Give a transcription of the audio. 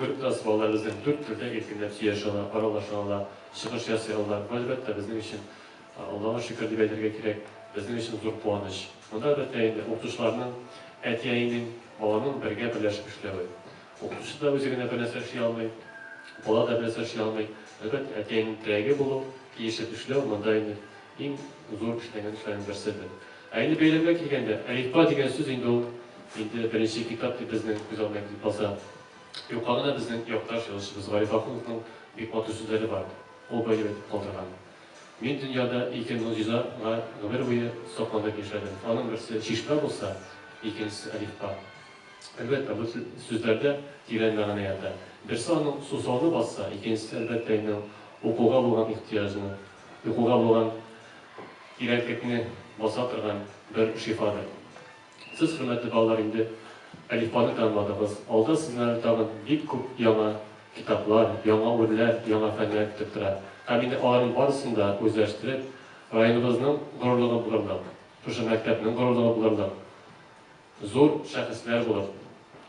Бер класс балалары безнең дүрт телдә иркенләп сөйләшә ала, аралаша ала, чыгыш ясый ала. Бу, әлбәттә, безнең өчен, Аллага шөкер дип әйтергә кирәк, безнең өчен зур куаныч. Монда, әлбәттә инде, укытучыларның, әти-әнинең, баланың бергә берләшеп эшләве. Укытучы да үзе генә бернәрсә эшли алмый, бала да бернәрсә эшли алмый. Әлбәттә, әти-әнинең терәге булу, килешеп эшләү, монда инде Иң зур эшләнгән эшләрнең берсе бу. Ә инде бәйрәмгә килгәндә, әлифба дигән сүз инде ул, инде беренче китап дип безнең күз алдына килеп баса. Юкка гына безнең якташ язучыбыз Гариф Ахуновның бик матур сүзләре бар, ул быел әйтеп калдырган, Мин дөньяда ике могҗиза га гомер буе сокланып яшәдем, аның берсе чишмә булса, икенчесе әлифба. Әлбәттә, бу сүзләрдә тирән мәгънә ята. Берсе аның сусауны басса, икенчесе, әлбәттә инде, ул укуга булган ихтыяҗны Йокыга булган тирәнтлекне баса торган бер шифадыр. Сез, хөрмәтле балалар, инде Әлифбаны танымадыгыз. Алда сезнең әле тагын бик күп яңа китаплар, яңа үрләр, яңа фәннәр көтеп тора. Һәм инде аларның барысын да үзләштереп, районыбызның горурлыгы булырлык, шушы мәктәпнең горурлыгы булырлык зур шәхесләр булып,